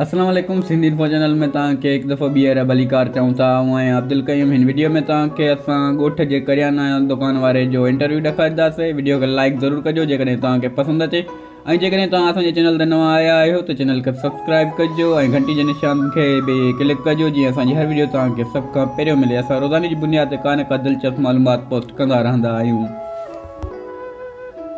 اسلام عليڪم Sindh info channel ۾ توهان کي هڪ دفعو ٻيهر ڀليڪار چئون ٿا آئون آهيان عبدالقيوم هن وڊيو ۾ توهان کي اسان ڳوٺ جي ڪريانا دڪان واري جو انٽرويو ڏيکارينداسي وڊيو کي لائيڪ ضرور ڪجو جيڪڏهن توهان کي پسند اچي ۽ جيڪڏهن توهان اسان جي چينل تي نوان آيا آهيو ته چينل کي سبسڪرائيب ڪجو ۽ گهنٽي جي نشان کي به ڪلڪ ڪجو جيئن اسان جي هر وڊيو توهان کي سڀ کان پهريون ملي اسان روزاني جي بنياد تي ڪا نه ڪا دلچسپ معلومات پوسٽ ڪندا رهندا آهيون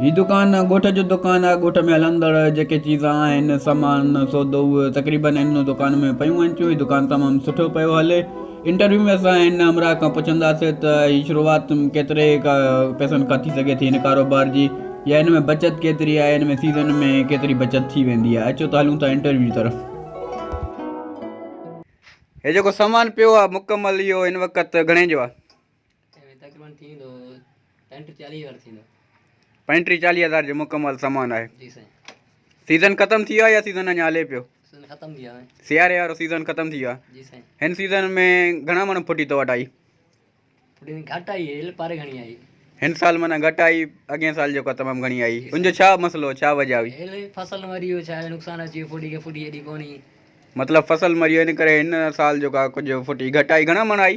هي دڪان ڳوٺ جو دڪان آهي، ڳوٺ ۾ هلندڙ جيڪي چيز آهن، سامان، سودو اهي تقريبن هن دڪان ۾ پيون هلن ٿيون، هي دڪان تمام سٺو پيو هلي، انٽرويو ۾ اسان هن همراهه کان پڇنداسين ته هي شروعات ڪيتري پئسن کان ٿي سگهي ٿي هن ڪاروبار جي يا هن ۾ بچت ڪيتري آهي هن ۾ سيزن ۾ ڪيتري بچت ٿي ويندي آهي اچو ته هلون ٿا انٽرويو جي طرف. هي جيڪو سامان پيو آهي مڪمل اهو هن وقت گهڻي جو آهي. پنٽيهه چاليهه هزار جو مڪمل سامان آهي سيزن ختم ٿي ويو آهي يا سيزن اڃا هلي پيو سياري وارو سيزن ختم ٿي ويو آهي هن سيزن ۾ گهڻا مڻ ڦٽي تو وٽ آئي هن سال معنيٰ گهٽ آئي اڳين سال جيڪا تمام گهڻي آئي ان جو ڇا مسئلو ڇا وجه هئي مطلب فصل مري ويو ان ڪري هن سال جيڪا ڦٽي گهٽ آئي گهڻا مڻ آئي